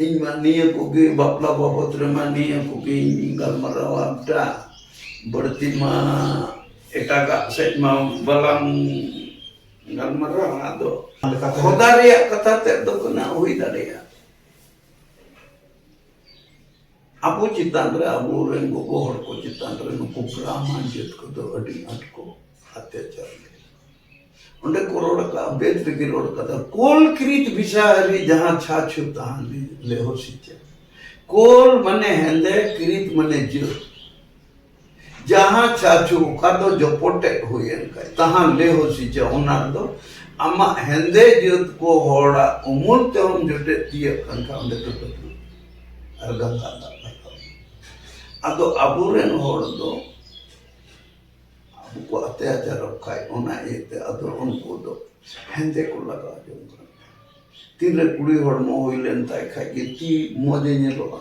ᱤᱧ ᱢᱟ ᱱᱤᱭᱟᱹ ᱠᱚᱜᱮ ᱵᱟᱯᱞᱟ ᱵᱟᱵᱚᱫ ᱨᱮᱢᱟ ᱱᱤᱭᱟᱹ ᱠᱚᱜᱮᱧ ᱜᱟᱞᱢᱟᱨᱟᱣᱟ ᱵᱮᱴᱟ ᱵᱟᱹᱲᱛᱤ ᱢᱟ ᱮᱴᱟᱜᱟᱜ ᱥᱮᱫ ᱢᱟ ᱵᱟᱞᱟᱝ ᱜᱟᱞᱢᱟᱨᱟᱣᱟ ᱟᱫᱚ ᱠᱷᱚᱫᱟ ᱨᱮᱭᱟᱜ ᱠᱟᱛᱷᱟ ᱛᱮᱫ ᱫᱚ ᱠᱟᱱᱟ ᱦᱩᱭ ᱫᱟᱲᱮᱭᱟᱜᱼᱟ ᱟᱵᱚ ᱪᱮᱛᱟᱱ ᱨᱮ ᱟᱵᱚ ᱨᱮᱱ ᱜᱚᱜᱚ ᱦᱚᱲ ᱠᱚ ᱪᱮᱛᱟᱱ ᱨᱮ ᱱᱩᱠᱩ ᱵᱨᱟᱢᱟᱱ ᱡᱟᱹᱛ ᱠᱚᱫᱚ ᱟᱹᱰᱤ ᱟᱸᱴ ᱠᱚ ᱚᱛᱛᱟᱪᱟᱨ ᱞᱮᱫᱟ ᱚᱸᱰᱮ ᱠᱚ ᱨᱚᱲ ᱠᱟᱜᱼᱟ ᱵᱮᱫ ᱨᱮᱜᱮ ᱨᱚᱲ ᱠᱟᱫᱟ ᱠᱳᱞ ᱠᱨᱤᱛ ᱵᱤᱥᱟᱦᱟᱨᱤ ᱡᱟᱦᱟᱸ ᱪᱷᱟ ᱪᱷᱩ ᱛᱟᱦᱟᱸ ᱞᱮᱦᱚ ᱥᱤᱪᱟ ᱠᱳᱞ ᱢᱟᱱᱮ ᱦᱮᱸᱫᱮ ᱠᱨᱤᱛ ᱢᱟᱱᱮ ᱡᱟᱹᱛ ᱡᱟᱦᱟᱸ ᱪᱟᱪᱩ ᱚᱠᱟ ᱫᱚ ᱡᱚᱯᱚᱴᱮᱫ ᱦᱩᱭᱮᱱ ᱠᱷᱟᱡ ᱛᱟᱦᱟᱸ ᱞᱮ ᱦᱚᱥᱤᱪᱟ ᱚᱱᱟ ᱫᱚ ᱟᱢᱟᱜ ᱦᱮᱸᱫᱮ ᱡᱟᱹᱛ ᱠᱚ ᱦᱚᱲᱟᱜ ᱩᱢᱩᱞ ᱛᱮᱦᱚᱢ ᱡᱚᱴᱮᱫ ᱛᱤᱭᱟᱹᱜ ᱠᱟᱱ ᱠᱷᱟᱡ ᱚᱸᱰᱮ ᱫᱚ ᱰᱩᱵᱩᱡ ᱟᱨ ᱜᱟᱝᱜᱟ ᱫᱟᱜ ᱨᱟᱠᱟᱵ ᱟᱫᱚ ᱟᱵᱚᱨᱮᱱ ᱦᱚᱲ ᱫᱚ ᱟᱵᱚ ᱠᱚ ᱟᱛᱮᱭᱟᱪᱟᱨᱚᱜ ᱠᱷᱟᱡ ᱚᱱᱟ ᱤᱭᱟᱹᱛᱮ ᱟᱫᱚ ᱩᱱᱠᱩ ᱫᱚ ᱦᱮᱸᱫᱮ ᱠᱚ ᱞᱟᱜᱟᱣ ᱡᱚᱝ ᱠᱟᱱᱟ ᱛᱤᱱᱨᱮ ᱠᱩᱲᱤ ᱦᱚᱲᱢᱚ ᱦᱩᱭ ᱞᱮᱱ ᱛᱟᱭ ᱠᱷᱟᱡ ᱜᱮ ᱛᱤ ᱢᱚᱡᱮ ᱧᱮᱞᱚᱜᱼᱟ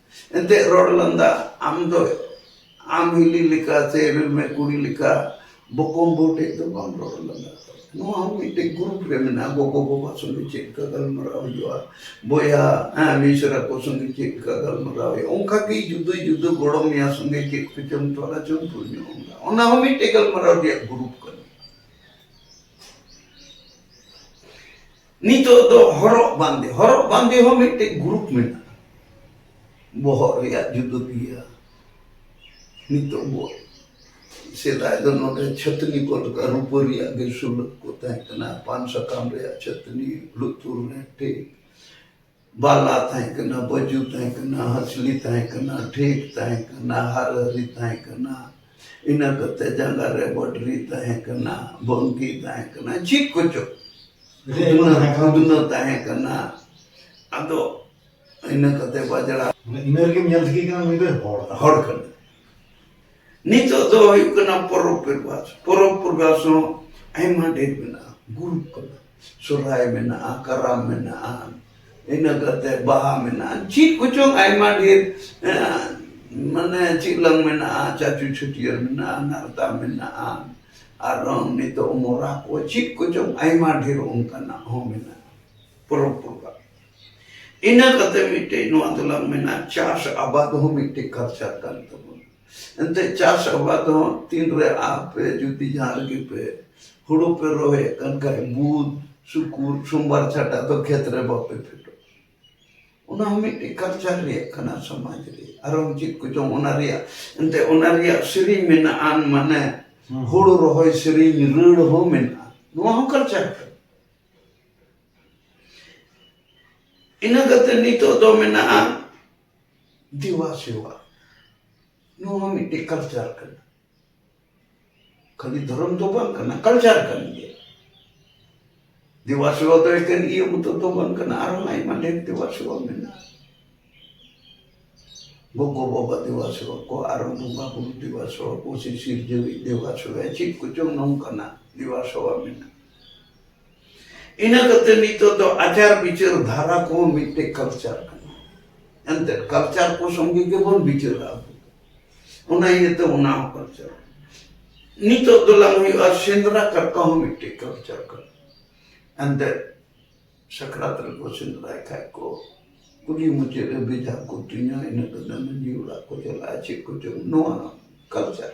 ᱮᱱᱛᱮᱫ ᱨᱚᱲ ᱞᱟᱸᱫᱟ ᱟᱢ ᱫᱚ ᱟᱢ ᱦᱤᱞᱤ ᱞᱮᱠᱟ ᱥᱮ ᱤᱨᱤᱞ ᱢᱮ ᱠᱩᱲᱤ ᱞᱮᱠᱟ ᱵᱚᱠᱚᱢ ᱵᱟᱹᱦᱩ ᱴᱷᱮᱡ ᱫᱚ ᱵᱟᱢ ᱨᱚᱲ ᱞᱟᱸᱫᱟ ᱱᱚᱣᱟ ᱦᱚᱸ ᱢᱤᱫᱴᱮᱡ ᱜᱨᱩᱯ ᱨᱮ ᱢᱮᱱᱟᱜᱼᱟ ᱜᱚᱜᱚ ᱵᱟᱵᱟ ᱥᱚᱸᱜᱮ ᱪᱮᱫ ᱞᱮᱠᱟ ᱜᱟᱞᱢᱟᱨᱟᱣ ᱦᱩᱭᱩᱜᱼᱟ ᱵᱚᱭᱦᱟ ᱦᱮᱸ ᱢᱤᱥᱨᱟ ᱠᱚ ᱥᱚᱸᱜᱮ ᱪᱮᱫ ᱞᱮᱠᱟ ᱜᱟᱞᱢᱟᱨᱟᱣ ᱦᱩᱭᱩᱜᱼᱟ ᱚᱱᱠᱟ ᱜᱮ ᱡᱩᱫᱟᱹ ᱡᱩᱫᱟᱹ ᱜᱚᱲᱚᱢ ᱮᱭᱟ ᱥᱚᱸᱜᱮ ᱪᱮᱫ ᱠᱚᱪᱚᱢ ᱛᱚᱞᱟ ᱪᱚᱢ ᱛᱩᱞ ᱧᱚᱜ ᱟᱢᱫᱟ ᱚᱱᱟ ᱦᱚᱸ ᱢᱤᱫᱴᱮᱡ ᱜᱟᱞᱢᱟᱨᱟᱣ ᱨᱮᱭᱟᱜ ᱜᱨᱩᱯ ᱠᱟᱱᱟ ᱱᱤᱛᱚᱜ ᱫᱚ ᱦᱚᱨᱚᱜ ᱵᱟᱸᱫᱮ ᱦᱚᱨᱚᱜ ᱵᱟᱸᱫᱮ ᱦᱚᱸ ᱢᱤᱫᱴᱮᱡ ᱜᱨᱩᱯ ᱢᱮᱱᱟᱜᱼᱟ ᱵᱚᱦᱚᱜ ᱨᱮᱭᱟᱜ ᱡᱩᱫᱟᱹ ᱜᱮᱭᱟ ᱱᱤᱛᱚᱜ ᱵᱚ ᱥᱮᱫᱟᱭ ᱫᱚ ᱱᱚᱰᱮ ᱪᱷᱟᱹᱛᱱᱤ ᱠᱚ ᱞᱮᱠᱟ ᱨᱩᱯᱟᱹ ᱨᱮᱭᱟᱜ ᱜᱮ ᱥᱩᱞᱟᱹᱠ ᱠᱚ ᱛᱟᱦᱮᱸ ᱠᱟᱱᱟ ᱯᱟᱱ ᱥᱟᱠᱟᱢ ᱨᱮᱭᱟᱜ ᱪᱷᱟᱹᱛᱱᱤ ᱞᱩᱛᱩᱨ ᱨᱮ ᱴᱷᱤᱠ ᱵᱟᱞᱟ ᱛᱟᱦᱮᱸ ᱠᱟᱱᱟ ᱵᱟᱹᱡᱩ ᱛᱟᱦᱮᱸ ᱠᱟᱱᱟ ᱦᱟᱸᱥᱞᱤ ᱛᱟᱦᱮᱸ ᱠᱟᱱᱟ ᱴᱷᱤᱠ ᱛᱟᱦᱮᱸ ᱠᱟᱱᱟ ᱦᱟᱨᱦᱟᱹᱨᱤ ᱛᱟᱦᱮᱸ ᱠᱟᱱᱟ ᱤᱱᱟᱹ ᱠᱟᱛᱮ ᱡᱟᱸᱜᱟ ᱨᱮ ᱵᱚᱰᱨᱤ ᱛᱟᱦᱮᱸ ᱠᱟᱱᱟ ᱵᱚᱝᱠᱤ ᱛᱟᱦᱮᱸ ᱠᱟᱱᱟ ᱪᱮᱫ ᱠᱚᱪᱚ ᱠᱷᱩᱫᱱᱟᱹ ᱛᱟᱦᱮᱸ ᱠᱟᱱᱟ ᱟᱫᱚ ᱤᱱᱟᱹ ᱠᱟᱛᱮ ᱵᱟᱡᱲᱟ ᱤᱱᱟᱹ ᱨᱮᱜᱮ ᱧᱮᱞ ᱴᱷᱤᱠ ᱠᱟᱱᱟ ᱱᱩᱭ ᱫᱚ ᱦᱚᱲ ᱦᱚᱲ ᱠᱟᱱᱟ ᱱᱤᱛᱚᱜ ᱫᱚ ᱦᱩᱭᱩᱜ ᱠᱟᱱᱟ ᱯᱚᱨᱚᱵᱽ ᱯᱚᱨᱵᱟᱥ ᱯᱚᱨᱚᱵᱽ ᱯᱚᱨᱵᱟᱥ ᱦᱚᱸ ᱟᱭᱢᱟ ᱰᱷᱮᱨ ᱢᱮᱱᱟᱜᱼᱟ ᱜᱩᱨᱩᱯ ᱠᱟᱱᱟ ᱥᱚᱨᱦᱟᱭ ᱢᱮᱱᱟᱜᱼᱟ ᱠᱟᱨᱟᱢ ᱢᱮᱱᱟᱜᱼᱟ ᱤᱱᱟᱹ ᱠᱟᱛᱮ ᱵᱟᱦᱟ ᱢᱮᱱᱟᱜᱼᱟ ᱪᱮᱫ ᱠᱚᱪᱚᱝ ᱟᱭᱢᱟ ᱰᱷᱮᱨ ᱢᱟᱱᱮ ᱪᱮᱫ ᱞᱟᱝ ᱢᱮᱱᱟᱜᱼᱟ ᱪᱟᱪᱩ ᱪᱷᱟᱹᱴᱭᱟᱹᱨ ᱢᱮᱱᱟᱜᱼᱟ ᱱᱟᱨᱫᱟ ᱢᱮᱱᱟᱜᱼᱟ ᱟᱨ ᱱᱤᱛᱚᱜ ᱢᱚᱨᱟ ᱠᱚ ᱪᱮᱫ ᱠᱚᱪᱚᱝ ᱟᱭᱢᱟ ᱰᱷᱮᱨ ᱚᱱᱠᱟᱱᱟᱜ ᱦᱚᱸ ᱢᱮᱱᱟᱜᱼᱟ ᱯᱚᱨᱚᱵᱽ ᱯᱨᱚᱵᱷᱟᱵᱽ ᱤᱱᱟᱹ ᱠᱟᱛᱮ ᱢᱤᱫᱴᱮᱡ ᱱᱚᱣᱟ ᱫᱚᱞᱟᱝ ᱢᱮᱱᱟ ᱪᱟᱥ ᱟᱵᱟᱫ ᱦᱚᱸ ᱢᱤᱫᱴᱮᱡ ᱠᱟᱞᱪᱟᱨ ᱠᱟᱱ ᱛᱟᱵᱚᱱᱟ ᱮᱱᱛᱮᱫ ᱪᱟᱥ ᱟᱵᱟᱫ ᱦᱚᱸ ᱛᱤᱱ ᱨᱮ ᱟᱯᱮ ᱡᱩᱫᱤ ᱡᱟᱦᱟᱸ ᱨᱮᱜᱮ ᱯᱮ ᱦᱩᱲᱩ ᱯᱮ ᱨᱚᱦᱚᱭᱮᱫ ᱠᱟᱱ ᱠᱷᱟᱡ ᱵᱩᱫ ᱥᱩᱠᱩᱨ ᱥᱚᱢᱵᱟᱨ ᱪᱷᱟᱰᱟ ᱫᱚ ᱠᱷᱮᱛ ᱨᱮ ᱵᱟᱯᱮ ᱯᱷᱮᱰᱚᱜ ᱚᱱᱟ ᱦᱚᱸ ᱢᱤᱫᱴᱮᱡ ᱠᱟᱞᱪᱟᱨ ᱨᱮᱭᱟᱜ ᱠᱟᱱᱟ ᱥᱚᱢᱟᱡᱽ ᱨᱮ ᱟᱨᱚ ᱪᱮᱫ ᱠᱚᱪᱚᱝ ᱚᱱᱟ ᱨᱮᱭᱟᱜ ᱮᱱᱛᱮᱫ ᱚᱱᱟ ᱨᱮᱭᱟᱜ ᱥᱮᱨᱮᱧ ᱢᱮᱱᱟᱜᱼᱟ ᱢᱟᱱᱮ ᱦᱩᱲᱩ ᱨᱚᱦᱚᱭ ᱥᱮᱨᱮᱧ ᱨᱟᱹᱲ ᱦᱚᱸ ᱢᱮᱱᱟᱜᱼᱟ ᱱᱚᱣᱟ ᱦᱚᱸ ᱠᱟᱞᱪᱟᱨ ᱠᱟᱱᱟ ᱤᱱᱟᱹ ᱠᱟᱛᱮ ᱱᱤᱛᱚᱜ ᱫᱚ ᱢᱮᱱᱟᱜᱼᱟ ᱫᱮᱵᱟ ᱥᱮᱵᱟ ᱱᱚᱣᱟ ᱦᱚᱸ ᱢᱤᱫᱴᱮᱡ ᱠᱟᱞᱪᱟᱨ ᱠᱟᱱᱟ ᱠᱷᱟᱹᱞᱤ ᱫᱷᱚᱨᱚᱢ ᱫᱚ ᱵᱟᱝ ᱠᱟᱱᱟ ᱠᱟᱞᱪᱟᱨ ᱠᱟᱱ ᱜᱮᱭᱟ ᱫᱮᱵᱟ ᱥᱮᱵᱟ ᱫᱚ ᱮᱠᱮᱱ ᱤᱭᱟᱹ ᱢᱚᱛᱚ ᱫᱚ ᱵᱟᱝ ᱠᱟᱱᱟ ᱟᱨᱦᱚᱸ ᱟᱭᱢᱟ ᱰᱷᱮᱨ ᱫᱮᱵᱟ ᱥᱮᱵᱟ ᱢᱮᱱᱟᱜᱼᱟ ᱜᱚᱜᱚ ᱵᱟᱵᱟ ᱫᱮᱵᱟ ᱥᱮᱵᱟ ᱠᱚ ᱟᱨᱦᱚᱸ ᱵᱚᱸᱜᱟ ᱵᱩᱨᱩ ᱫᱮᱵᱟ ᱥᱮᱵᱟ ᱠᱚ ᱥᱮ ᱥᱤᱨᱡᱟᱹᱣᱤᱡ ᱫᱮᱵᱟ ᱥᱮᱵᱟ ᱪᱮᱫ ᱠᱚᱪᱚᱝ ᱱᱚᱝᱠᱟᱱᱟᱜ ᱫᱮᱵᱟ ᱥᱮᱵᱟ ᱢᱮᱱᱟᱜᱼᱟ ᱤᱱᱟᱹ ᱠᱟᱛᱮ ᱱᱤᱛᱚᱜ ᱫᱚ ᱟᱪᱟᱨ ᱵᱤᱪᱟᱹᱨ ᱫᱷᱟᱨᱟ ᱠᱚ ᱢᱤᱫᱴᱮᱡ ᱠᱟᱞᱪᱟᱨ ᱠᱟᱱᱟ ᱮᱱᱛᱮ ᱠᱟᱞᱪᱟᱨ ᱠᱚ ᱥᱚᱸᱜᱮ ᱜᱮᱵᱚᱱ ᱵᱤᱪᱟᱹᱨᱟ ᱚᱱᱟ ᱤᱭᱟᱹᱛᱮ ᱚᱱᱟ ᱦᱚᱸ ᱠᱟᱞᱪᱟᱨ ᱱᱤᱛᱚᱜ ᱫᱚ ᱞᱟᱝ ᱦᱩᱭᱩᱜᱼᱟ ᱥᱮᱸᱫᱽᱨᱟ ᱠᱟᱨᱠᱟ ᱦᱚᱸ ᱢᱤᱫᱴᱮᱡ ᱠᱟᱞᱪᱟᱨ ᱠᱟᱱᱟ ᱮᱱᱛᱮ ᱥᱟᱠᱨᱟᱛ ᱨᱮᱠᱚ ᱥᱮᱸᱫᱽᱨᱟᱭ ᱠᱷᱟᱡ ᱠᱚ ᱠᱩᱞᱦᱤ ᱢᱩᱪᱟᱹᱫ ᱨᱮ ᱵᱮᱡᱷᱟ ᱠᱚ ᱛᱩᱧᱟ ᱤᱱᱟᱹ ᱠᱟᱛᱮ ᱢᱟᱺᱡᱷᱤ ᱚᱲᱟᱜ ᱠᱚ ᱪᱟᱞᱟᱜᱼᱟ ᱪᱮᱫ ᱠᱚ ᱪᱚᱝ ᱱᱚᱣᱟ ᱠᱟᱞᱪᱟᱨ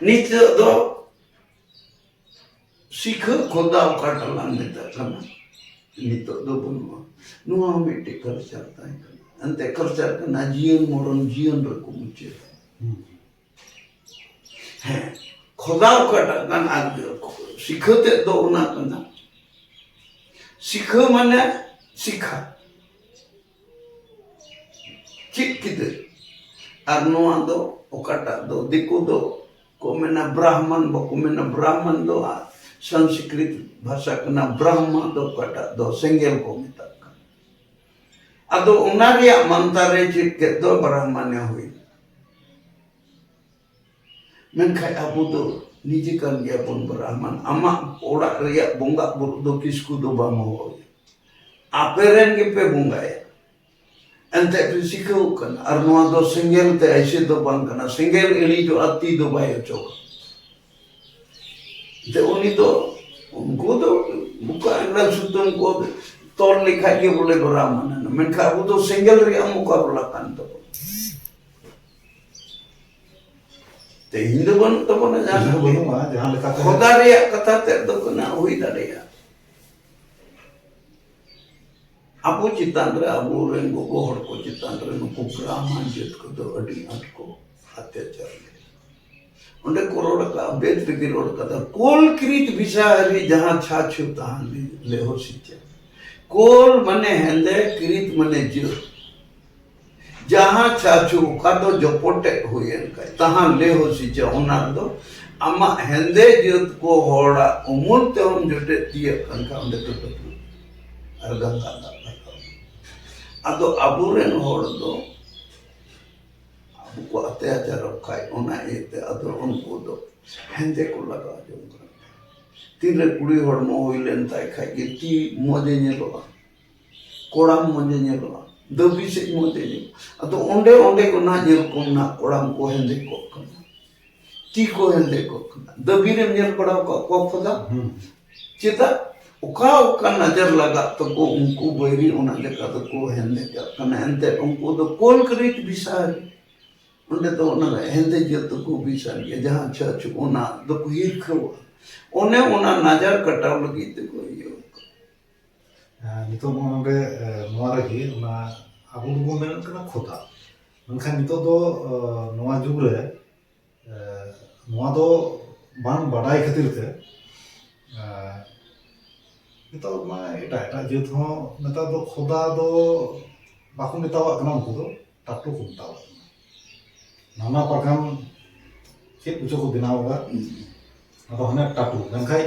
ᱱᱤᱛᱚᱜ ᱫᱚ ᱥᱤᱠᱷᱟᱹ ᱠᱷᱚᱫᱟ ᱚᱠᱟᱴᱟᱜ ᱞᱟᱝ ᱢᱮᱛᱟᱜ ᱠᱟᱱᱟ ᱱᱤᱛᱚᱜ ᱫᱚ ᱵᱟᱹᱱᱩᱜᱼᱟ ᱱᱚᱣᱟ ᱦᱚᱸ ᱢᱤᱫᱴᱮᱡ ᱠᱟᱞᱪᱟᱨ ᱛᱟᱦᱮᱸ ᱠᱟᱱᱟ ᱮᱱᱛᱮ ᱠᱟᱞᱪᱟᱨ ᱠᱟᱱᱟ ᱡᱤᱭᱚᱱ ᱢᱚᱨᱚᱱ ᱡᱤᱭᱚᱱ ᱨᱮᱠᱚ ᱢᱩᱪᱟᱹᱫᱟ ᱦᱮᱸ ᱠᱷᱚᱫᱟ ᱚᱠᱟᱴᱟᱜ ᱠᱟᱱᱟ ᱟᱨ ᱥᱤᱠᱷᱟᱹ ᱛᱮᱫ ᱫᱚ ᱚᱱᱟ ᱠᱟᱱᱟ ᱥᱤᱠᱷᱟᱹ ᱢᱟᱱᱮ ᱥᱤᱠᱷᱟ ᱪᱮᱫ ᱠᱮᱫᱟ ᱟᱨ ᱱᱚᱣᱟ ᱫᱚ ᱚᱠᱟᱴᱟᱜ ᱫᱚ ᱫᱤᱠᱩ ᱫᱚ ᱠᱚ ᱢᱮᱱᱟ ᱵᱨᱟᱦᱢᱟᱱ ᱵᱟᱠᱚ ᱢᱮᱱᱟ ᱵᱨᱟᱦᱢᱟᱱ ᱫᱚ ᱥᱚᱝᱥᱠᱨᱤᱛ ᱵᱷᱟᱥᱟ ᱠᱟᱱᱟ ᱵᱨᱟᱦᱢᱟ ᱫᱚ ᱚᱠᱟᱴᱟᱜ ᱫᱚ ᱥᱮᱸᱜᱮᱞ ᱠᱚ ᱢᱮᱛᱟᱜ ᱠᱟᱱᱟ ᱟᱫᱚ ᱚᱱᱟ ᱨᱮᱭᱟᱜ ᱢᱟᱱᱛᱟᱨᱮ ᱪᱮᱫ ᱠᱮᱫ ᱫᱚ ᱵᱨᱟᱦᱢᱟᱱᱮ ᱦᱩᱭ ᱢᱮᱱᱠᱷᱟᱱ ᱟᱵᱚ ᱫᱚ ᱱᱤᱡᱮ ᱠᱟᱱ ᱜᱮᱭᱟᱵᱚᱱ ᱵᱨᱟᱦᱢᱟᱱ ᱟᱢᱟᱜ ᱚᱲᱟᱜ ᱨᱮᱭᱟᱜ ᱵᱚᱸᱜᱟ ᱵᱩᱨᱩ ᱫᱚ ᱠᱤᱥᱠᱩ ᱫᱚ ᱵᱟᱢ ᱦᱚᱦᱚᱭᱟ ᱟᱯᱮ ᱨᱮᱱ ᱜᱮᱯᱮ ᱵᱚᱸᱜᱟᱭᱟ ᱮᱱᱛᱮᱫ ᱯᱮ ᱥᱤᱠᱷᱟᱹᱣ ᱠᱟᱱᱟ ᱟᱨ ᱱᱚᱣᱟ ᱫᱚ ᱥᱮᱸᱜᱮᱞ ᱛᱮ ᱮᱭᱥᱮ ᱫᱚ ᱵᱟᱝ ᱠᱟᱱᱟ ᱥᱮᱸᱜᱮᱞ ᱤᱬᱤᱡᱚᱜᱼᱟ ᱛᱤ ᱫᱚ ᱵᱟᱭ ᱚᱪᱚᱜᱟ ᱡᱮ ᱩᱱᱤ ᱫᱚ ᱩᱱᱠᱩ ᱫᱚ ᱵᱩᱠᱟ ᱮᱸᱜᱟᱞ ᱥᱩᱛᱟᱹᱢ ᱠᱚ ᱛᱚᱞ ᱞᱮᱠᱷᱟᱡ ᱜᱮ ᱵᱚᱞᱮ ᱵᱨᱟᱦᱢᱟᱱ ᱮᱱᱟ ᱢᱮᱱᱠᱷᱟᱱ ᱟᱵᱚ ᱫᱚ ᱥᱮᱸᱜᱮᱞ ᱨᱮᱭᱟᱜ ᱢᱚᱠᱟᱵᱞᱟ ᱠᱟᱱ ᱛᱟᱵᱚᱱᱟ ᱛᱮᱦᱮᱧ ᱫᱚ ᱵᱟᱹᱱᱩᱜ ᱛᱟᱵᱚᱱᱟ ᱡᱟᱦᱟᱸ ᱫᱚ ᱵᱟᱹᱱᱩᱜᱼᱟ ᱡᱟᱦᱟᱸ ᱞᱮᱠᱟᱛᱮ ᱠᱷᱚᱫᱟ ᱨᱮᱭᱟᱜ ᱠᱟᱛᱷᱟ ᱛᱮᱫ ᱫᱚ ᱠᱟᱱᱟ ᱦᱩᱭ ᱫᱟᱲᱮᱭᱟᱜᱼᱟ ᱟᱵᱚ ᱪᱮᱛᱟᱱ ᱨᱮ ᱟᱵᱚᱨᱮᱱ ᱜᱚᱜᱚ ᱦᱚᱲ ᱠᱚ ᱪᱮᱛᱟᱱ ᱨᱮ ᱱᱩᱠᱩ ᱵᱨᱟᱦᱢᱟᱱ ᱡᱟᱹᱛ ᱠᱚᱫᱚ ᱟᱹᱰᱤ ᱟᱸᱴ ᱠᱚ ᱚᱛᱛᱟᱪᱟᱨ ᱚᱸᱰᱮ ᱠᱚ ᱨᱚᱲ ᱟᱠᱟᱫᱼᱟ ᱵᱮᱫ ᱨᱮᱜᱮ ᱨᱚᱲ ᱟᱠᱟᱫᱟ ᱠᱳᱞ ᱠᱨᱤᱛ ᱵᱤᱥᱟᱦᱟᱨᱤ ᱡᱟᱦᱟᱸ ᱪᱷᱟᱪᱷᱩ ᱛᱟᱦᱟᱱ ᱞᱮᱦᱚ ᱥᱤᱪᱟ ᱠᱳᱞ ᱢᱟᱱᱮ ᱦᱮᱸᱫᱮ ᱠᱨᱤᱛ ᱢᱟᱱᱮ ᱡᱟᱹᱛ ᱡᱟᱦᱟᱸ ᱪᱷᱟᱪᱷᱩ ᱚᱠᱟ ᱫᱚ ᱡᱚᱯᱚᱴᱮ ᱦᱩᱭᱮᱱ ᱠᱷᱟᱡ ᱛᱟᱦᱟᱱ ᱞᱮᱦᱚ ᱥᱤᱪᱟ ᱚᱱᱟ ᱫᱚ ᱟᱢᱟᱜ ᱦᱮᱸᱫᱮ ᱡᱟᱹᱛ ᱠᱚ ᱦᱚᱲᱟᱜ ᱩᱢᱩᱞ ᱛᱮᱦᱚᱢ ᱡᱚᱴᱮᱫ ᱛᱤᱭᱟᱹᱜ ᱠᱟᱱ ᱠᱷᱟᱡ ᱚᱸᱰᱮ ᱫᱚ ᱰᱩᱵᱩᱡ ᱟᱨ ᱜᱟᱝᱜᱟ ᱫᱟᱜ ᱨᱟᱠᱟᱵ ᱟᱫᱚ ᱟᱵᱚᱨᱮᱱ ᱦᱚᱲ ᱫᱚ ᱟᱵᱚ ᱠᱚ ᱚᱛᱛᱟᱪᱟᱨᱚᱜ ᱠᱷᱟᱡ ᱚᱱᱟ ᱤᱭᱟᱹᱛᱮ ᱟᱫᱚ ᱩᱱᱠᱩ ᱫᱚ ᱦᱮᱸᱫᱮ ᱠᱚ ᱞᱟᱜᱟᱣ ᱡᱚᱝ ᱠᱟᱱᱟ ᱛᱤᱨᱞᱟᱹ ᱠᱩᱲᱤ ᱦᱚᱲᱢᱚ ᱦᱩᱭ ᱞᱮᱱ ᱛᱟᱭ ᱠᱷᱟᱡ ᱜᱮ ᱛᱤ ᱢᱚᱡᱮ ᱧᱮᱞᱚᱜᱼᱟ ᱠᱚᱲᱟᱢ ᱢᱚᱡᱮ ᱧᱮᱞᱚᱜᱼᱟ ᱫᱟᱹᱵᱤ ᱥᱮᱡ ᱢᱚᱡᱮ ᱧᱮᱞᱚᱜᱼᱟ ᱟᱫᱚ ᱚᱸᱰᱮ ᱚᱸᱰᱮ ᱠᱚ ᱱᱟᱜ ᱧᱮᱞ ᱠᱚᱢ ᱱᱟᱜ ᱠᱚᱲᱟᱢ ᱠᱚ ᱦᱮᱸᱫᱮ ᱠᱚᱜ ᱠᱟᱱᱟ ᱛᱤ ᱠᱚ ᱦᱮᱸᱫᱮ ᱠᱚᱜ ᱠᱟᱱᱟ ᱫᱟᱹᱵᱤ ᱨᱮᱢ ᱧᱮᱞ ᱵᱟᱲᱟ ᱟᱠᱟᱫ ᱠᱚᱣᱟ ᱠᱷᱚᱫᱟ ᱪᱮᱫᱟᱜ ᱚᱠᱟ ᱚᱠᱟ ᱱᱟᱡᱟᱨ ᱞᱟᱜᱟᱜ ᱛᱟᱠᱚ ᱩᱱᱠᱩ ᱵᱟᱹᱭᱨᱤ ᱚᱱᱟ ᱞᱮᱠᱟ ᱫᱚᱠᱚ ᱦᱮᱸᱫᱮ ᱠᱟᱜ ᱠᱟᱱᱟ ᱮᱱᱛᱮᱫ ᱩᱱᱠᱩ ᱫᱚ ᱠᱳᱞ ᱠᱨᱤᱴ ᱵᱤᱥᱟᱨ ᱚᱸᱰᱮ ᱫᱚ ᱚᱱᱟ ᱦᱮᱸᱫᱮ ᱡᱟᱹᱛ ᱫᱚᱠᱚ ᱵᱤᱥᱟᱨ ᱜᱮᱭᱟ ᱡᱟᱦᱟᱸ ᱪᱷᱟᱹᱪ ᱚᱱᱟ ᱫᱚᱠᱚ ᱦᱤᱨᱠᱷᱟᱹᱣᱟ ᱚᱱᱮ ᱚᱱᱟ ᱱᱟᱡᱟᱨ ᱠᱟᱴᱟᱣ ᱞᱟᱹᱜᱤᱫ ᱛᱮᱠᱚ ᱤᱭᱟᱹ ᱱᱤᱛᱚᱜ ᱱᱚᱜᱼᱚ ᱱᱚᱰᱮ ᱱᱚᱣᱟ ᱨᱮᱜᱮ ᱚᱱᱟ ᱟᱵᱚ ᱫᱚᱵᱚᱱ ᱢᱮᱱᱮᱫ ᱠᱟᱱᱟ ᱠᱷᱚᱛᱟ ᱢᱮᱱᱠᱷᱟᱱ ᱱᱤᱛᱚᱜ ᱫᱚ ᱱᱚᱣᱟ ᱡᱩᱜᱽ ᱨᱮ ᱱᱚᱣᱟ ᱫᱚ ᱵᱟᱝ ᱵᱟᱰᱟᱭ ᱠᱷᱟᱹᱛᱤᱨ ᱛᱮ ᱱᱤᱛᱚᱜ ᱢᱟ ᱮᱴᱟᱜ ᱮᱴᱟᱜ ᱡᱟᱹᱛ ᱦᱚᱸ ᱱᱮᱛᱟᱨ ᱫᱚ ᱠᱷᱚᱫᱟ ᱫᱚ ᱵᱟᱠᱚ ᱢᱮᱛᱟᱣᱟᱜ ᱠᱟᱱᱟ ᱩᱱᱠᱩ ᱫᱚ ᱴᱟᱴᱩ ᱠᱚ ᱢᱮᱛᱟᱣ ᱠᱟᱱᱟ ᱱᱟᱱᱟ ᱯᱨᱚᱠᱟᱨ ᱪᱮᱫ ᱠᱚᱪᱚ ᱠᱚ ᱵᱮᱱᱟᱣ ᱟᱠᱟᱫ ᱟᱫᱚ ᱦᱟᱱᱮ ᱴᱟᱴᱩ ᱢᱮᱱᱠᱷᱟᱡ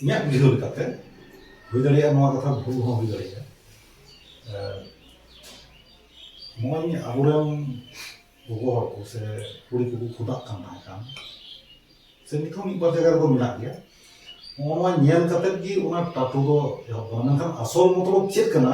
ᱤᱧᱟᱹᱜ ᱵᱩᱡᱷᱟᱹᱣ ᱞᱮᱠᱟᱛᱮ ᱦᱩᱭ ᱫᱟᱲᱮᱭᱟᱜᱼᱟ ᱱᱚᱣᱟ ᱠᱟᱛᱷᱟ ᱵᱷᱩᱞ ᱦᱚᱸ ᱦᱩᱭ ᱫᱟᱲᱮᱭᱟᱜᱼᱟ ᱱᱚᱜᱼᱚᱭ ᱟᱵᱚᱨᱮᱱ ᱜᱚᱜᱚ ᱦᱚᱲ ᱠᱚ ᱥᱮ ᱠᱩᱲᱤ ᱠᱚᱠᱚ ᱠᱷᱚᱫᱟᱜ ᱠᱟᱱ ᱛᱟᱦᱮᱸ ᱠᱟᱱ ᱥᱮ ᱱᱤᱛ ᱦᱚᱸ ᱢᱤᱫ ᱵᱟᱨ ᱡᱟᱭᱜᱟ ᱨᱮᱫᱚ ᱢᱮᱱᱟᱜ ᱜᱮᱭᱟ ᱱᱚᱜᱼᱚ ᱱᱚᱣᱟ ᱧᱮᱞ ᱠᱟᱛᱮᱫ ᱜᱮ ᱚᱱᱟ ᱴᱟᱴᱩ ᱫᱚ ᱮᱦᱚᱵ ᱠᱟᱱᱟ ᱢᱮᱱᱠᱷᱟᱱ ᱟᱥᱚᱞ ᱢᱚᱛᱞᱚᱵ ᱪᱮᱫ ᱠᱟᱱᱟ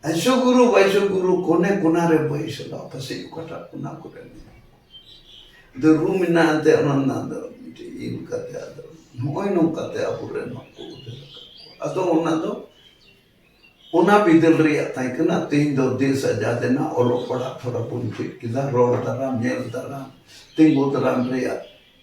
ᱟᱭᱥᱚ ᱜᱩᱨᱩ ᱵᱟᱭᱥᱚ ᱜᱩᱨᱩ ᱠᱚᱱᱮ ᱠᱚᱱᱟ ᱨᱮ ᱵᱟᱭᱥᱚ ᱫᱚ ᱯᱟᱥᱮᱡ ᱚᱠᱟᱴᱟᱜ ᱠᱚᱱᱟ ᱠᱚᱨᱮ ᱢᱮᱱᱟᱜ ᱫᱚ ᱨᱩ ᱢᱮᱱᱟᱜ ᱮᱱᱛᱮ ᱚᱱᱟ ᱨᱮᱱᱟᱜ ᱫᱚ ᱢᱤᱫᱴᱮᱡ ᱤᱭᱟᱹ ᱞᱮᱠᱟᱛᱮ ᱟᱫᱚ ᱱᱚᱜᱼᱚᱭ ᱱᱚᱝᱠᱟᱛᱮ ᱟᱵᱚᱨᱮᱱ ᱦᱚᱸᱠᱚ ᱩᱫᱷᱟᱹᱨ ᱟᱠᱟᱫ ᱠᱚᱣᱟ ᱟᱫᱚ ᱚᱱᱟ ᱫᱚ ᱚᱱᱟ ᱵᱤᱫᱟᱹᱞ ᱨᱮᱭᱟᱜ ᱛᱟᱦᱮᱸ ᱠᱟᱱᱟ ᱛᱮᱦᱮᱧ ᱫᱚ ᱫᱮᱥ ᱟᱡᱟᱫ ᱮᱱᱟ ᱚᱞᱚᱜ ᱯᱟᱲᱦᱟᱜ ᱛᱷᱚᱲᱟ ᱵᱚᱱ ᱪᱮᱫ ᱠᱮᱫᱟ ᱨᱚᱲ ᱫᱟᱨᱟᱢ ᱧᱮᱞ ᱫᱟᱨᱟᱢ ᱛᱤᱸᱜᱩ ᱫᱟᱨᱟᱢ ᱨᱮᱭᱟᱜ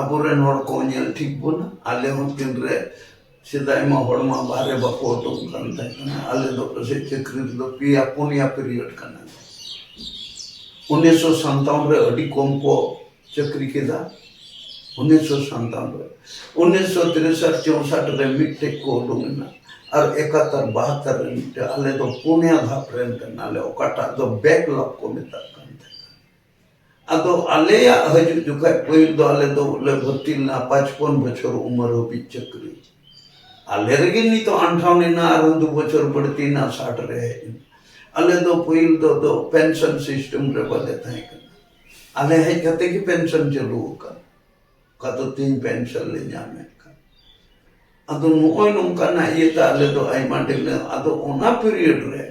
ᱟᱵᱚᱨᱮᱱ ᱦᱚᱲ ᱠᱚ ᱧᱮᱞ ᱴᱷᱤᱠ ᱵᱚᱱᱟ ᱟᱞᱮ ᱦᱚᱸ ᱛᱤᱱᱨᱮ ᱥᱮᱫᱟᱭ ᱢᱟ ᱦᱚᱲ ᱢᱟ ᱵᱟᱦᱨᱮ ᱵᱟᱠᱚ ᱩᱰᱩᱠᱚᱜ ᱠᱟᱱ ᱛᱟᱦᱮᱸ ᱠᱟᱱᱟ ᱟᱞᱮ ᱫᱚ ᱯᱟᱥᱮᱡ ᱪᱟᱹᱠᱨᱤ ᱨᱮᱫᱚ ᱯᱮᱭᱟ ᱯᱩᱱᱭᱟ ᱯᱤᱨᱤᱭᱚᱰ ᱠᱟᱱᱟ ᱩᱱᱤᱥᱥᱚ ᱥᱟᱱᱛᱟᱣᱚᱱ ᱨᱮ ᱟᱹᱰᱤ ᱠᱚᱢ ᱠᱚ ᱪᱟᱹᱠᱨᱤ ᱠᱮᱫᱟ ᱩᱱᱤᱥᱥᱚ ᱥᱟᱱᱛᱟᱣᱚᱱ ᱨᱮ ᱩᱱᱤᱥᱥᱚ ᱛᱤᱨᱤᱥᱟᱴ ᱪᱚᱣᱥᱟᱴ ᱨᱮ ᱢᱤᱫᱴᱮᱡ ᱠᱚ ᱩᱰᱩᱠ ᱮᱱᱟ ᱟᱨ ᱮᱠᱟᱛᱛᱚᱨ ᱵᱟᱦᱟᱛᱛᱚᱨ ᱨᱮ ᱢᱤᱫᱴᱮᱡ ᱟᱞᱮ ᱫᱚ ᱯᱩᱱᱭᱟ ᱫᱷᱟᱯ ᱨᱮᱱ ᱠᱟᱱᱟᱞᱮ ᱚᱠᱟᱴᱟᱜ ᱫᱚ ᱵᱮᱠᱞᱚᱜ ᱠᱚ ᱢᱮᱛᱟᱜ ᱠᱟᱱ ᱛᱟᱦᱮᱸ ᱟᱫᱚ ᱟᱞᱮᱭᱟᱜ ᱦᱤᱡᱩᱜ ᱡᱚᱠᱷᱟᱡ ᱯᱟᱹᱦᱤᱞ ᱫᱚ ᱟᱞᱮ ᱫᱚ ᱞᱮ ᱵᱷᱚᱨᱛᱤ ᱞᱮᱱᱟ ᱯᱟᱸᱪᱯᱚᱱ ᱵᱚᱪᱷᱚᱨ ᱩᱢᱮᱨ ᱦᱟᱹᱵᱤᱡ ᱪᱟᱹᱠᱨᱤ ᱟᱞᱮ ᱨᱮᱜᱮ ᱱᱤᱛᱚᱜ ᱟᱱᱴᱷᱟᱣ ᱞᱮᱱᱟ ᱟᱨ ᱫᱩ ᱵᱚᱪᱷᱚᱨ ᱵᱟᱹᱲᱛᱤᱭᱮᱱᱟ ᱥᱟᱴ ᱨᱮ ᱦᱮᱡ ᱮᱱᱟ ᱟᱞᱮ ᱫᱚ ᱯᱟᱹᱦᱤᱞ ᱫᱚ ᱫᱚ ᱯᱮᱱᱥᱚᱱ ᱥᱤᱥᱴᱮᱢ ᱨᱮ ᱵᱟᱞᱮ ᱛᱟᱦᱮᱸ ᱠᱟᱱᱟ ᱟᱞᱮ ᱦᱮᱡ ᱠᱟᱛᱮ ᱜᱮ ᱯᱮᱱᱥᱚᱱ ᱪᱟᱹᱞᱩ ᱟᱠᱟᱱ ᱚᱠᱟ ᱫᱚ ᱛᱤᱦᱤᱧ ᱯᱮᱱᱥᱚᱱ ᱞᱮ ᱧᱟᱢᱮᱫ ᱠᱟᱱ ᱟᱫᱚ ᱱᱚᱜᱼᱚᱭ ᱱᱚᱝᱠᱟᱱᱟᱜ ᱤᱭᱟᱹᱛᱮ ᱟᱞᱮ ᱫᱚ ᱟᱭᱢᱟ ᱰᱷᱮᱨ ᱟᱫᱚ ᱚᱱᱟ ᱯᱤᱨᱤᱭᱚᱰ ᱨᱮ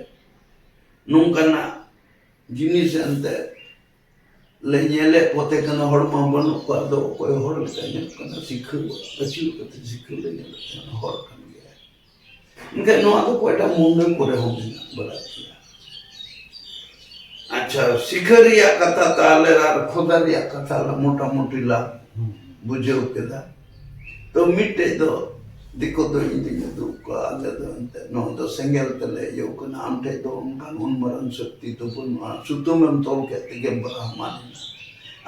ᱱᱚᱝᱠᱟᱱᱟᱜ ᱡᱤᱱᱤᱥ ᱮᱱᱛᱮ ᱞᱮ ᱧᱮᱞᱮᱫ ᱠᱚᱛᱮ ᱠᱟᱱᱟ ᱦᱚᱲ ᱢᱟ ᱵᱟᱹᱱᱩᱜ ᱠᱚᱣᱟ ᱟᱫᱚ ᱚᱠᱚᱭ ᱦᱚᱲ ᱞᱮᱠᱟ ᱧᱮᱞᱚᱜ ᱠᱟᱱᱟ ᱥᱤᱠᱷᱟᱹ ᱟᱹᱪᱩᱨ ᱠᱟᱛᱮ ᱥᱤᱠᱷᱟᱹ ᱞᱮ ᱧᱮᱞᱮᱫ ᱠᱟᱱᱟ ᱦᱚᱲ ᱠᱟᱱ ᱜᱮᱭᱟ ᱮᱱᱠᱷᱟᱱ ᱱᱚᱣᱟ ᱫᱚ ᱚᱠᱚᱭᱴᱟ ᱢᱩᱱᱰᱟᱹ ᱠᱚᱨᱮ ᱦᱚᱸ ᱢᱮᱱᱟᱜ ᱵᱟᱲᱟ ᱜᱮᱭᱟ ᱟᱪᱪᱷᱟ ᱥᱤᱠᱷᱟᱹ ᱨᱮᱭᱟᱜ ᱠᱟᱛᱷᱟ ᱛᱟᱦᱞᱮ ᱟᱨ ᱠᱷᱚᱫᱟ ᱨᱮᱭᱟᱜ ᱠᱟᱛᱷᱟ ᱢᱚᱴᱟᱢᱩᱴᱤ ᱞᱟᱝ ᱵᱩᱡᱷᱟᱹᱣ ᱠᱮᱫᱟ ᱛᱚ ᱢᱤᱫᱴᱮᱡ ᱫᱚ ᱫᱤᱠᱩ ᱫᱚ ᱤᱧ ᱫᱩᱧ ᱩᱫᱩᱜ ᱠᱚᱣᱟ ᱟᱞᱮ ᱫᱚ ᱮᱱᱛᱮᱫ ᱱᱚᱣᱟ ᱫᱚ ᱥᱮᱸᱜᱮᱞ ᱛᱮᱞᱮ ᱤᱭᱟᱹᱣ ᱠᱟᱱᱟ ᱟᱢ ᱴᱷᱮᱡ ᱫᱚ ᱚᱱᱠᱟᱱ ᱩᱱ ᱢᱟᱨᱟᱝ ᱥᱚᱠᱛᱤ ᱫᱚ ᱵᱟᱹᱱᱩᱜᱼᱟ ᱥᱩᱛᱟᱹᱢ ᱮᱢ ᱛᱚᱞ ᱠᱮᱫ ᱛᱮᱜᱮᱢ ᱵᱨᱟᱦᱢᱟᱱ ᱮᱱᱟ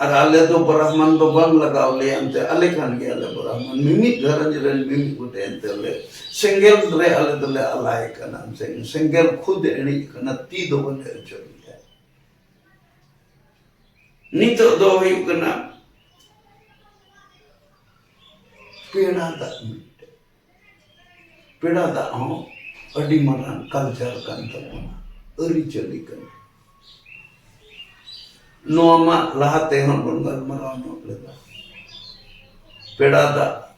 ᱟᱨ ᱟᱞᱮ ᱫᱚ ᱵᱨᱟᱦᱢᱟᱱ ᱫᱚ ᱵᱟᱝ ᱞᱟᱜᱟᱣ ᱞᱮᱭᱟ ᱮᱱᱛᱮ ᱟᱞᱮ ᱠᱟᱱ ᱜᱮᱭᱟᱞᱮ ᱵᱨᱟᱦᱢᱟᱱ ᱢᱤᱢᱤᱫ ᱜᱷᱟᱨᱚᱸᱡᱽ ᱨᱮᱱ ᱢᱤᱢᱤᱫ ᱜᱚᱴᱮᱡ ᱮᱱᱛᱮ ᱞᱮ ᱥᱮᱸᱜᱮᱞ ᱨᱮ ᱟᱞᱮ ᱫᱚᱞᱮ ᱟᱞᱟᱭ ᱠᱟᱱᱟ ᱥᱮᱸᱜᱮᱞ ᱠᱷᱩᱫ ᱮ ᱤᱬᱤᱡ ᱠᱟᱱᱟ ᱛᱤ ᱫᱚ ᱵᱟᱞᱮ ᱚᱪᱚᱜ ᱮᱫᱟ ᱱᱤᱛᱚᱜ ᱫᱚ ᱦᱩᱭᱩᱜ ᱠᱟᱱᱟ ᱯᱮᱲᱟ ᱫᱟᱜ ᱢᱤᱫᱴᱮᱱ ᱯᱮᱲᱟ ᱫᱟᱜ ᱦᱚᱸ ᱟᱹᱰᱤ ᱢᱟᱨᱟᱝ ᱠᱟᱞᱪᱟᱨ ᱠᱟᱱ ᱛᱟᱵᱚᱱᱟ ᱟᱹᱨᱤᱪᱟᱹᱞᱤ ᱠᱟᱱᱟ ᱱᱚᱣᱟ ᱢᱟ ᱞᱟᱦᱟ ᱛᱮᱦᱚᱸ ᱵᱚᱱ ᱜᱟᱞᱢᱟᱨᱟᱣ ᱧᱚᱜ ᱞᱮᱫᱟ ᱯᱮᱲᱟ ᱫᱟᱜ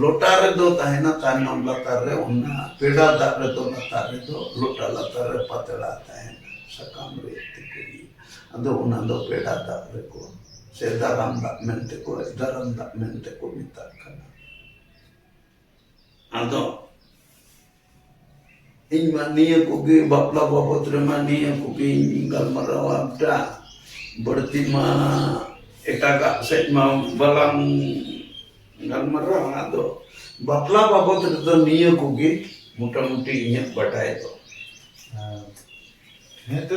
ᱞᱚᱴᱟ ᱨᱮᱫᱚ ᱛᱟᱦᱮᱱᱟ ᱛᱟᱭᱱᱚᱢ ᱞᱟᱛᱟᱨ ᱨᱮ ᱚᱱᱟ ᱯᱮᱰᱟ ᱫᱟᱜ ᱨᱮᱫᱚ ᱞᱟᱛᱟᱨ ᱨᱮᱫᱚ ᱞᱚᱴᱟ ᱞᱟᱛᱟᱨ ᱨᱮ ᱯᱟᱛᱲᱟ ᱛᱟᱦᱮᱱᱟ ᱥᱟᱠᱟᱢ ᱨᱮ ᱛᱮᱠᱚ ᱟᱫᱚ ᱚᱱᱟ ᱫᱚ ᱯᱮᱰᱟ ᱫᱟᱜ ᱨᱮᱠᱚ ᱥᱮ ᱫᱟᱨᱟᱢ ᱫᱟᱜ ᱢᱮᱱᱛᱮ ᱠᱚ ᱫᱟᱨᱟᱢ ᱫᱟᱜ ᱢᱮᱱᱛᱮ ᱠᱚ ᱢᱮᱛᱟᱜ ᱠᱟᱱᱟ ᱟᱫᱚ ᱤᱧ ᱢᱟ ᱱᱤᱭᱟᱹ ᱠᱚᱜᱮ ᱵᱟᱯᱞᱟ ᱵᱟᱵᱚᱫ ᱨᱮᱢᱟ ᱱᱤᱭᱟᱹ ᱠᱚᱜᱮᱧ ᱜᱟᱞᱢᱟᱨᱟᱣᱟ ᱵᱮᱴᱟ ᱵᱟᱹᱲᱛᱤ ᱢᱟ ᱮᱴᱟᱜᱟᱜ ᱥᱮᱫ ᱢᱟ ᱵᱟᱞᱟᱝ ᱜᱟᱞᱢᱟᱨᱟᱣᱟ ᱟᱫᱚ ᱵᱟᱯᱞᱟ ᱵᱟᱵᱚᱫ ᱨᱮᱫᱚ ᱱᱤᱭᱟᱹ ᱠᱚᱜᱮ ᱢᱚᱴᱟᱢᱩᱴᱤ ᱤᱧᱟᱹᱜ ᱵᱟᱰᱟᱭ ᱫᱚ ᱦᱮᱸ ᱛᱚ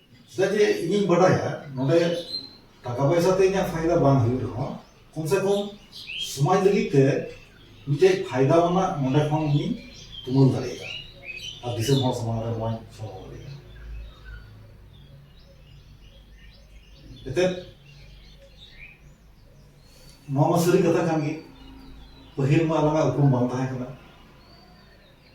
ᱪᱮᱫᱟᱜ ᱡᱮ ᱤᱧᱤᱧ ᱵᱟᱰᱟᱭᱟ ᱱᱚᱰᱮ ᱴᱟᱠᱟ ᱯᱚᱭᱥᱟ ᱛᱮ ᱤᱧᱟᱹᱜ ᱯᱷᱟᱭᱫᱟ ᱵᱟᱝ ᱦᱩᱭᱩᱜ ᱨᱮᱦᱚᱸ ᱠᱚᱢ ᱥᱮ ᱠᱚᱢ ᱥᱚᱢᱟᱡᱽ ᱞᱟᱹᱜᱤᱫ ᱛᱮ ᱢᱤᱫᱴᱮᱡ ᱯᱷᱟᱭᱫᱟ ᱟᱱᱟᱜ ᱱᱚᱰᱮ ᱠᱷᱚᱱ ᱤᱧ ᱛᱩᱢᱟᱹᱞ ᱫᱟᱲᱮᱭᱟᱜᱼᱟ ᱟᱨ ᱫᱤᱥᱚᱢ ᱦᱚᱲ ᱥᱟᱢᱟᱝ ᱨᱮ ᱱᱚᱣᱟᱧ ᱥᱚᱫᱚᱨ ᱫᱟᱲᱮᱭᱟᱜᱼᱟ ᱮᱛᱮᱫ ᱱᱚᱣᱟ ᱢᱟ ᱥᱟᱹᱨᱤ ᱠᱟᱛᱷᱟ ᱠᱟᱱ ᱜᱮ ᱯᱟᱹᱦᱤᱞ ᱢᱟ ᱟᱞᱟᱝᱟᱜ ᱩᱯᱨᱩᱢ ᱵᱟᱝ ᱛᱟᱦᱮᱸ ᱠᱟᱱᱟ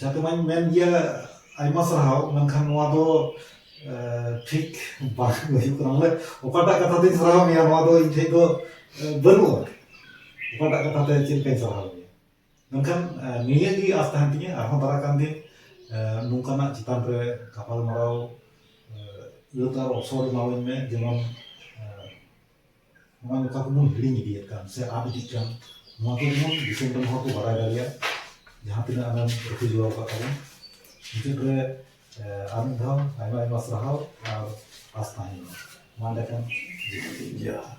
ᱡᱟᱛᱮ ᱢᱟᱧ ᱢᱮᱱ ᱜᱮᱭᱟ ᱟᱭᱢᱟ ᱥᱟᱨᱦᱟᱣ ᱢᱮᱱᱠᱷᱟᱱ ᱱᱚᱣᱟ ᱫᱚ ᱴᱷᱤᱠ ᱵᱟᱝ ᱦᱩᱭᱩᱜ ᱠᱟᱱᱟ ᱵᱚᱞᱮ ᱚᱠᱟᱴᱟᱜ ᱠᱟᱛᱷᱟ ᱛᱤᱧ ᱥᱟᱨᱦᱟᱣ ᱢᱮᱭᱟ ᱱᱚᱣᱟ ᱫᱚ ᱤᱧ ᱴᱷᱮᱡ ᱫᱚ ᱵᱟᱹᱱᱩᱜᱼᱟ ᱚᱠᱟᱴᱟᱜ ᱠᱟᱛᱷᱟ ᱛᱮ ᱪᱮᱫ ᱞᱮᱠᱟᱧ ᱥᱟᱨᱦᱟᱣ ᱢᱮᱭᱟ ᱢᱮᱱᱠᱷᱟᱱ ᱱᱤᱭᱟᱹ ᱜᱮ ᱟᱸᱥ ᱛᱟᱦᱮᱱ ᱛᱤᱧᱟᱹ ᱟᱨᱦᱚᱸ ᱫᱟᱨᱟᱭ ᱠᱟᱱ ᱫᱤᱱ ᱱᱚᱝᱠᱟᱱᱟᱜ ᱪᱮᱛᱟᱱ ᱨᱮ ᱜᱟᱯᱟᱞᱢᱟᱨᱟᱣ ᱟᱹᱛ ᱟᱨ ᱚᱯᱥᱚᱨ ᱮᱢᱟᱣᱟᱹᱧ ᱢᱮ ᱡᱮᱢᱚᱱ ᱱᱚᱣᱟ ᱡᱚᱛᱚ ᱠᱚ ᱵᱚᱱ ᱦᱤᱲᱤᱧ ᱤᱫᱤᱭᱮᱫ ᱠᱟᱱ ᱥᱮ ᱟᱫ ᱤᱫᱤᱜ ᱠᱟᱱ ᱱᱚᱣᱟ ᱠᱚ ᱡᱮᱢᱚᱱ ᱫᱤᱥᱚᱢ ᱨᱮᱱ ᱦᱚᱲ ᱠᱚ ᱵᱟᱲᱟᱭ ᱫᱟᱲᱮᱭᱟᱜ ᱡᱟᱦᱟᱸ ᱛᱤᱱᱟᱹᱜ ᱟᱢᱮᱢ ᱨᱟᱹᱠᱷᱤ ᱡᱚᱜᱟᱣ ᱟᱠᱟᱫ ᱛᱟᱵᱚᱱ ᱢᱩᱪᱟᱹᱫ ᱨᱮ ᱟᱨ ᱢᱤᱫ ᱫᱷᱟᱣ ᱟᱭᱢᱟ ᱟᱭᱢᱟ ᱥᱟᱨᱦᱟᱣ ᱟᱨ ᱟᱥ ᱛᱟᱦᱮᱱ ᱢᱟ ᱢᱟ ᱮᱸᱰᱮᱠᱷᱟᱱ ᱡᱚᱦᱟᱨ